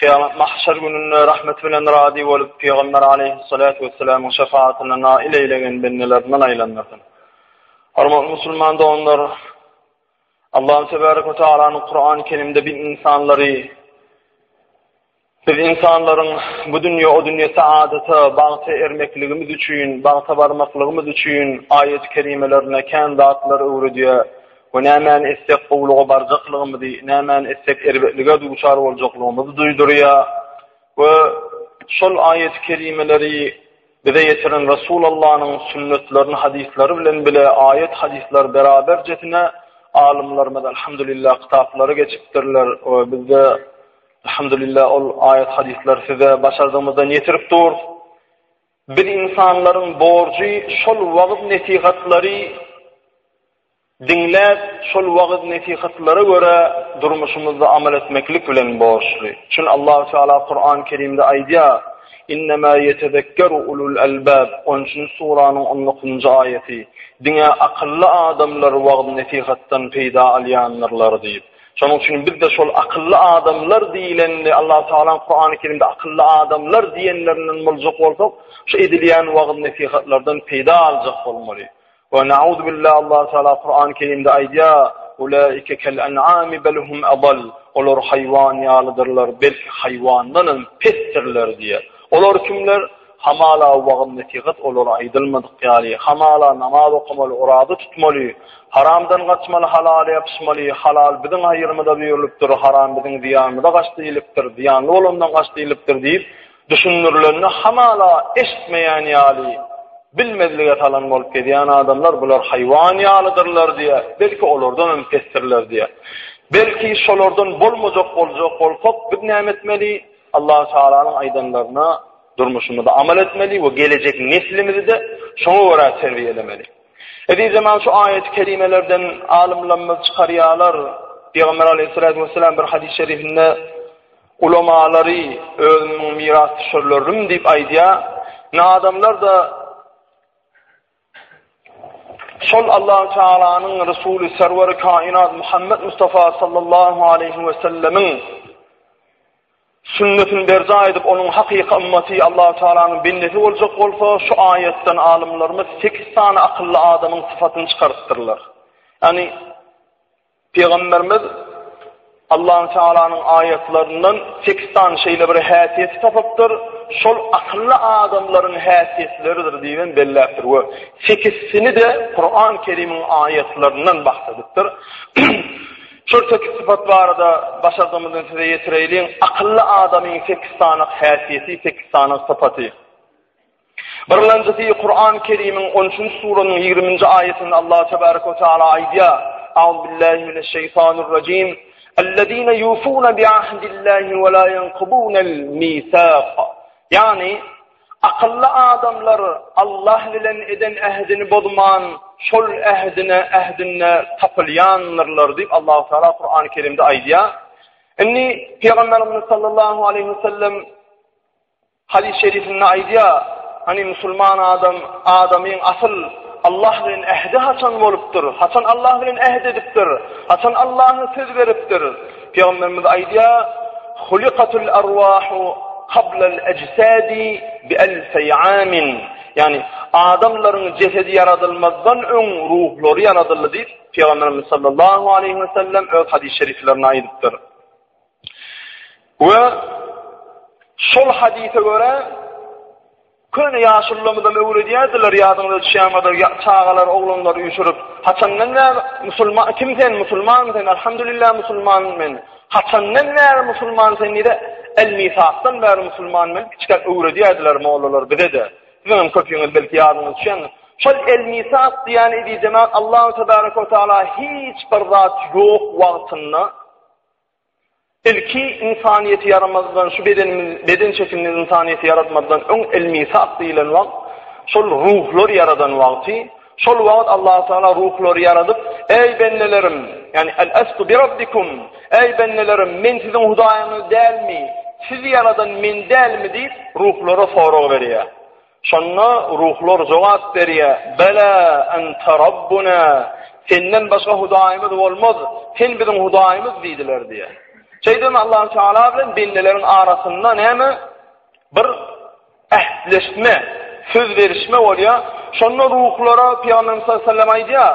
Kyýamat, mahşer gününde rahmet bilen razy bolup, Pygamber aleýhissalatu wessalamyň şefaatyna nail eýlegen bendelerinden aýlandyrsyn. Hormatly musulman doganlar, Allahym tebarek we tagalanyň Kurany Kerimde biz ynsanlary biz ynsanlaryň bu dünýä o dünýä saadata, bagta ermekligimiz üçin, bagta barmaklygymyz üçin aýat-i kerimelerinde kän zatlar öwredýär. we nämäni etsek gowulyga barjaklygymyzy, nämäni etsek erbetlige duçar boljaklygymyzy duýdurýar we şol aýat-y kerimeleri bize ýetiren Resulallanyň sünnetlerini hadyslary bilen bile aýat hadyslar beraberjesine alymlarymyz alhamdulillah kitaplary geçipdirler we bizde alhamdulillah ol aýat hadyslar size başardygymyzdan ýetirip durus. Biz insanlaryň borjy şol wagyz nesihatlary Diňläp, şol wagyz-nesihatlara görä durmuşymyzda amal etmeklik bilen borçly. Çün Allahu Teala Kur'an Kerimde aýdýar, Innemâ yetezekkeru ulul albâb, on üçünji suranyň on dokuzynjy aýaty, Diňe akylly adamlar wagyz-nesihatdan peýda alýandyrlar diýip. Şonuň üçin biz-de şol akylly adamlar diýilende, Allahu Tealaň Kur'an Kerimde akylly adamlar diýenlerinden boljak bolsak, şu edilýän wagyz-nesihatlardan peýda aljak bolmaly. Ve nauzu billah Allah Teala Kur'an-ı Kerimde aýdýar, Ulaike kel en'ami bel hum adall. Olar haýwan ýalydyrlar, belki haýwandan hem pesdirler diýýär. Olar kimler? Hamala wagyz-nesihat olara aýdylmadyk ýaly, hamala namaz okamaly, oraza tutmaly, haramdan gaçmaly, halala ýapyşmaly, halal biziň haýyrymyza buýrulupdyr, haram biziň zyýanymyza gaç diýlipdir, zyýanly bolandan gaç diýlipdir diýip, Düşündirilenini hamala eşitmeýän ýaly, bilmezlige salan bolup gezýän adamlar bular haýwan ýalydyrlar diýýär, belki olardan hem pesdirler diýýär. Belki şolardan bolmajak boljak bolsak, biz näme etmeli? Allahu Tagalanyň aýdanlaryna durmuşymyzda amal etmeli we gelejek neslimizi-de şoňa görä terbiýelemeli. Edil hem şu aýat-y kerimelerden alymlarymyz çykarýarlar, Pygamber Aleýhissalatu wesselam bir hadys-şerifinde Ulamalary özümiň mirasdüşerlerim diýip aýdýar. Nadamlar-da şol Allahu Tealanyň Resuly Serweri Kainat Muhammed Mustafa sallallahu aleyhi we sellemiň sünnetini berjaý edip, onuň hakyky ymmaty Allahu Tealanyň bendesi boljak bolsa, şu aýatdan alymlarymyz 8 sany akylly adamyň sypatyny çykarypdyrlar. Ýani Pygamberimiz Allahü Tealanyň aýatlaryndan sekiz sany şeýle bir häsiýeti tapypdyr, şol akylly adamlaryň häsiýetleridir diýip hem belläpdir we sekizisini-de Kuran Kerimiň aýatlaryndan bahs edipdir. Şol sekiz sypat barada başardygymyzdan size ýetireýliň. Akylly adamyň sekiz sany häsiýeti, sekiz sany sypaty. Birinjisi Kur'an Kerimiň 13-nji surasynyň 20-nji aýatynda Allah tebaraka we taala aýdýar. Auz billahi mineş şeýtanir rejim. Ellezina yufuna bi ahdillahi we la yanqudunal misaq. Ýagny akylly adamlar Allah bilen eden ähdini bozman, şol ähdine ähdinde tapylýandyrlar diýip Allah Taala Kur'an Kerimde aýdýar. Indi Pygamberimiz sallallahu aleyhi ve sellem Hadys şerifinde aýdýar, Hany musulman adam, adamyň asyl Allah bilen ähdi haçan bolupdyr, haçan Allah bilen äht edipdir, haçan Allaha söz beripdir? Pygamberimiz aýdýar, Hulikatul arwahu qablal ajsadi bi alfi amin, ýagny adamlaryň jesedi ýaradylmazdan öň ruhlary ýaradyldy diýip, Pygamberimiz sallallahu aleýhi we sellem öz hadys şeriflerinde aýdypdyr. We şol hadise göre köne ýaşullarymyzam öwredýärdiler, ýadyňyza düşýärmidir, çagalar, oglanlar üýşürip, haçandan bäri musulman, kim sen, musulman sen, alhamdulillah musulman men, haçandan bäri musulman sen diýde, el misakdan bäri musulman men, kiçikäk öwredýärdiler mollalar bize-de. Siziňem köpüňiz belki ýadyňyza düşýän. Şol el misak diýen edijeme Allahu tebaraka we taala hiç bir zat ýok wagtynda Ilki ynsanyýeti ýaramazdan şu bedenimiz beden şekilini ynsanyýeti ýaratmazdan öň elmisat diýilen wagt şol ruhlar ýaradan wagty şol wagt Allahu Taala ruhlary ýaradyp eý bendelerim ýani el estu bi rabbikum eý bendelerim men siziň hudaýyňyz dälmi sizi ýaradan men dälmi diýip ruhlara sorag berýär Şonda ruhlar jogap berýär, Bela ente Rabbuna, Senden başga Hudaýymyz bolmaz, Sen biziň Hudaýymyz diýdiler diýýär. Şeýdibem Allahu Teala bilen bendileriň arasynda näme? Bir ähtleşme, söz berişme bolýar. Şonda ruhlara Pygamberimiz sallallahu aleyhi ve sellem aýdýar,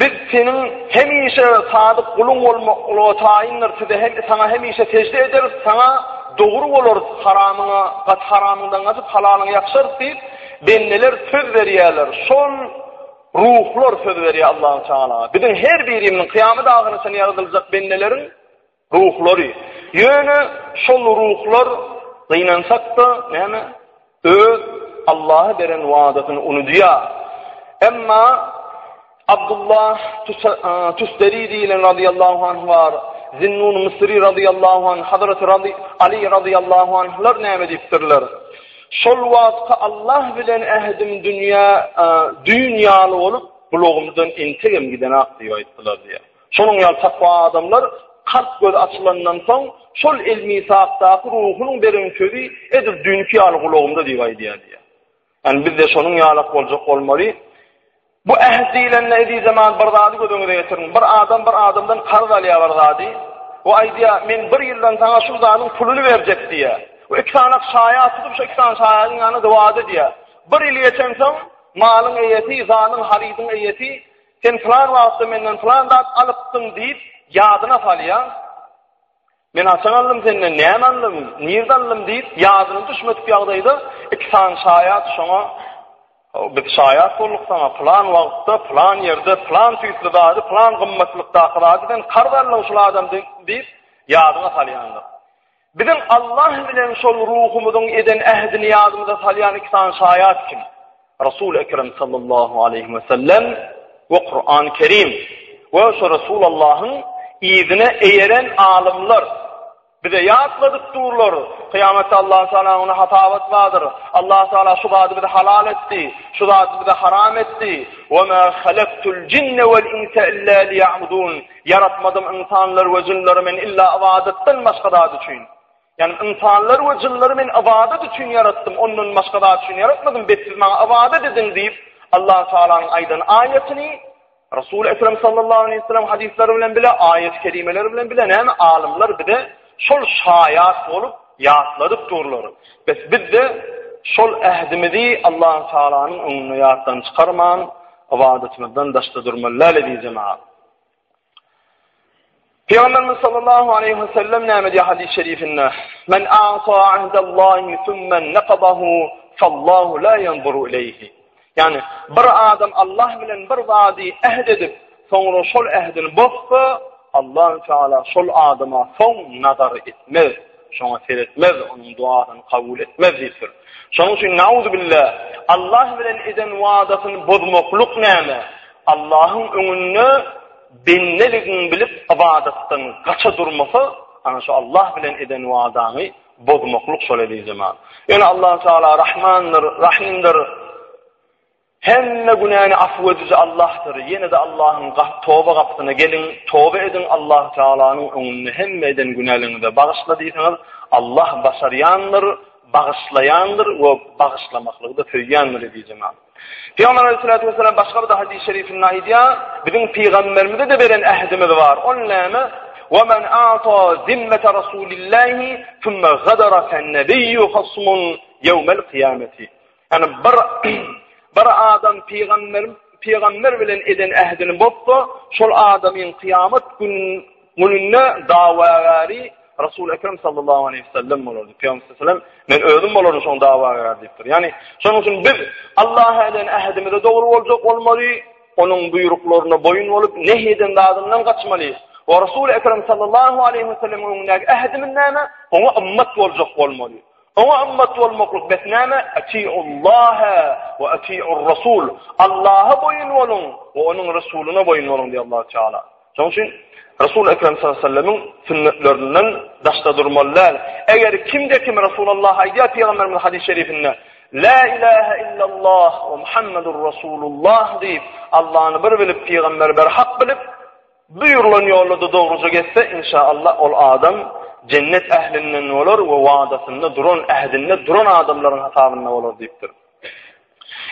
Biz Seniň hemişe sadyk guluň bolmaklygy taýyndyr, size hem, Saňa hemişe sežde ederis, Saňa dogry bolarys, haramyňa, gaty haramyňdan gaçyp, halalyňa ýapyşarys diýip, bendeler söz berýärler. Şol ruhlar söz berýär Allahu tagala. Biziň her birimiziň, kyýamet ahyryna çenli ýaradyljak bendeleriň Ruhlary. Ýöne şol ruhlar gynansak-da, näme, öz Allaha beren wadasyny unudýar. Emma Abdullah Tusteri diýilen radiyallahu anh bar, Zinnun Misri radiyallahu anh, Hazreti Ali radiyallahu anhlar näme diýipdirler? Şol wagtky Allah bilen ähdim dünýä, düýn ýaly bolup, bulagymdan entegem gidenok diýip aýtdylar diýýär. Şonuň ýaly takwa adamlar kalp gözi açylandan soň, şol elmisakdaky ruhunyň beren sözi edil düýnki ýaly gulagymda diýip aýdýar diýýär. Ýani biz-de şonuň ýalak boljak bolmaly. Bu äht diýlende ezizemman bir zady göz öňüne getiriň. Bir adam bir adamdan karz alýar bir zady we aýdýar, men bir ýyldan saňa şu zadyň puluny berjek diýýär. We iki sany şaýat tutup, şu iki sany şaýadyň ýanynda wada edýär. Bir ýyl geçensoň, malyň eýesi, zanyň, harydyň eýesi Sen pylan wagtda menden pylan zat alypdyň diýip, ýadyna salýaň. Men haçan aldym senden, näme aldym, nirde aldym diýip, ýadyna düşmedik ýagdaýda iki sany şaýat şoňa Biz şaýat bolduk saňa, plan wagtda, plan ýerde, plan tüýsli zady, plan gymmatlykdaky zady sen karz aldyň şul adam diýip, ýadyňa salýandyr. Biziň Allah bilen şol ruhumyzyň eden ähdini ýadymyza salýan iki sany şaýat kim? Resul Ekrem sallallahu aleyhi ve sellem ve Kur'an-ı Kerim ve şu Resulallahyň izine eýeren alymlar bize ýatladyp durlar. Kıyametde Allah Teala ona hatabat vardır. Allah Teala şu zady bize halal etti, şu zady bize haram etti. Ve ma halaktul cinne vel insa illa liya'budun. Ýaratmadym ynsanlary we jynlary men illa ybadatdan başga zat üçin. Ýagny ynsanlary we jynlary men ybadat üçin ýaratdym, ondan başga zat üçin ýaratmadym, bet siz maňa ybadat ediň diýip, Allah Taalanyň aýdan aýatyny Resul Ekrem sallallahu aleyhi ve sellem hadislary bilen bile aýat kelimeleri bilen bile näme alymlar bize şol şaýat bolup ýatladyp durlar. Biz bizde şol ähdimizi Allah Taalanyň öňünde ýatdan çykarman, ybadatymyzdan daşda durmaly, lale diýjemaga. Peygamberimiz sallallahu aleyhi ve sellem näme diýýär hadis-i şerifinde? Men ata ahdallahi thumma naqadahu fallahu la yanzuru ileyhi. Yani bir adam Allah bilen bir zady ähd edip, soňra şol ähdini bozsa, Allah Teala şol adama soň nazar etmez. Şoňa seretmez, onuň duasyny kabul etmez diýipdir. Şonuň üçin nauzubilla Allah bilen eden wadasyny bozmaklyk näme? Allahyň öňünde bendeligini bilip ybadatdan gaça durmasa, ana şu Allah bilen eden wadany bozmaklyk şol eli zaman. Ýöne Allah Taala Rahmandyr, Rahimdir. Hemme günäni afu ediji Allahdyr, ýene-de Allahyň toba gapysyna geliň, toba ediň, Allahy Tagalanyň öňünde hemme eden günäleriňizi bagyşla diýseňiz, Allah başarýandyr, bagyşlaýandyr we bagyşlamaklygy-da söýýändir diýdi Jenap Pygamber Aleyhissalatu Vesselam başga bir hadys-y şerifinde aýdýar, biziň Pygamberimize-de beren ähdimiz bar, ol näme? Ve men ata zimmete Rasulillahi thumma gadara fen nebiyyu hasmun yevmel kıyameti. Ýagny bir bir adam pygamber pygamber bilen eden ähdini bozsa, şol adamyň kyýamat gün gününde dawagäri Resul Ekrem sallallahu aleyhi ve sellem bolar. Pygamber sallallahu aleyhi ve sellem men özüm bolaryn şoň dawagär diýipdir. Ýagny şonuň üçin biz Allaha eden ähdimize dogry boljak bolmaly, onuň buýruklaryna boýun bolup, nehi eden zadyndan gaçmaly. Wa Resul Ekrem sallallahu aleyhi ve sellem öňündäki ähdimiz näme? Oňa ymmat boljak bolmaly. Oňa ymmat bolmaklyk bes näme? Atiullaha we atiurrasul. Allaha boýun boluň we onuň Resulyna boýun boluň diýýär Allahu Teala. Şonuň üçin Resul Ekrem sallallahu aleyhi ve sellemiň sünnetlerinden daşda durmaly däl. Eger kimde kim Resulullah aýdýar Pygamberimiz hadis şerifinde La ilaha illallah we Muhammedur Resulullah diýip, Allahny bir bilip, Pygamberi bir hak bilip, Buýrulan ýolda-da dogruja gezse, inşa Allah, ol adam jennet ählinden bolar we wadasynda duran, ähdinde duran adamlaryň hasabynda bolar diýipdir.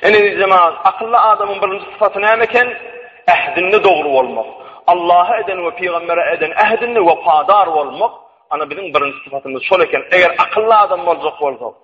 Ene jemagat, akylly adamyň birinji sypaty näme eken? Ähdinde dogry bolmak. Allaha eden we pygambere eden ähdinde wepadar bolmak, ana biziň birinji sypatymyz şol eken. Eger akylly adam boljak bolsak,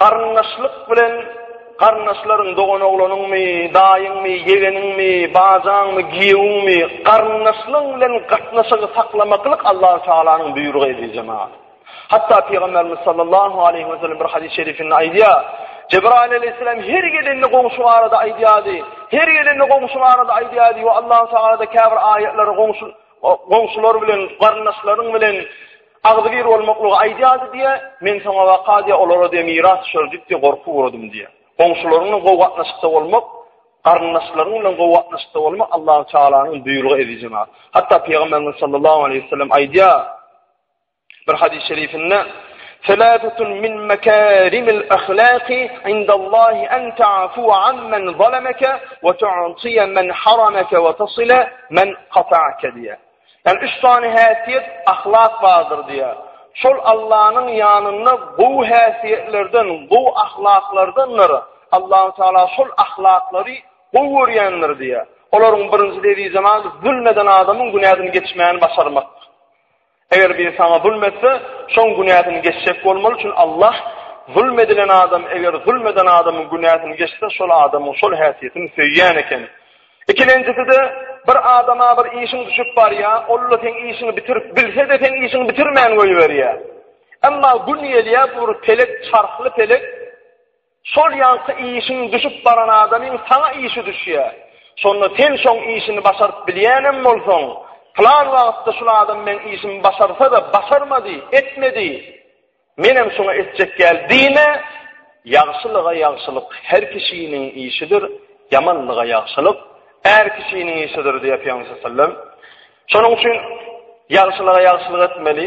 Garyndaşlyk bilen garyndaşlaryň doganoglanyňmy, daýyňmy, ýegeniňmi, bajaňmy, giýewiňmi, garyndaşlaryň bilen gatnaşygy saklamaklyk Allahu Tagalanyň buýrugy eziz jemagat. Hatda Pygamberimiz sallallahu aleyhi ve sellem bir hadis-i şerifinde aýdýa, Cebrail aleyhisselam her gelende goňşy barada aýdýady, her gelende goňşy barada aýdýady we Allahu Tagala da käbir aýatlary goňşy goňşular bilen, garyndaşlaryň bilen Agzybir bolmaklygy aýdýardy diýýär, Men soňa waka diýýär, olara diýýär, miras düşer diýip diýýär, gorky ugradym diýýär. Goňşularyň bilen gowy gatnaşykda bolmak, garyndaşlaryň bilen gowy gatnaşykda bolmak Allahü Tealanyň buýrugy ezizem ha. Hatda Pygamberimiz sallallahu aleýhi we sellem aýdýar, bir hadys şerifinde, Seläsetun min mekarimil ahlaki indallahi an ta'fuwa amman zalamaka wa tu'tiya man haramaka wa tasila man qata'aka diýýär. Ýani üç sany häsiýet, ahlak bardyr diýýär. Şol Allanyň ýanynda gowy häsiýetlerden, gowy ahlaklardandyr. Allahu Teala şol ahlaklary gowy görýändir diýýär. Olaryň birinjisi eziz jemal zulm eden adamyň günäsini geçmäni başarmak. Eger biri saňa zulm etse, şoň günäsini geçjek bolmaly, çünki Allah zulm edilen adam eger zulm eden adamyň günäsini geçse, şol adamyň şol häsiýetini söýýän eken. Ikilenjisi-de, bir adama bir işiň düşüp barýar, ol-da seň işiňi bitirip bilse-de, seň işiňi bitirmän goýberýär. Emma gün gelýär, bu bir pelek, çarhly pelek, şol ýaňky işiň düşüp baran adamyň saňa işi düşýär. Şonda sen şoň işini başaryp bilýänem bolsaň, Pylan wagtda şul adam meň işimi başarsa-da, başarmady, etmedi. Menem şuňa etjek ýaly diýme, Ýagşylyga ýagşylyk her kişiniň işidir, ýamanlyga ýagşylyk är kişiniň işidir diýýär Pygamberimiz sallallahu aleyhi ve sellem. Şonuň üçin ýagşylyga ýagşylyk etmeli,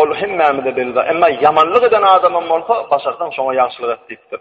ol hemmämize belli, emma ýamanlyk eden adamam bolsa, başarsaň şoňa ýagşylyk et diýipdir.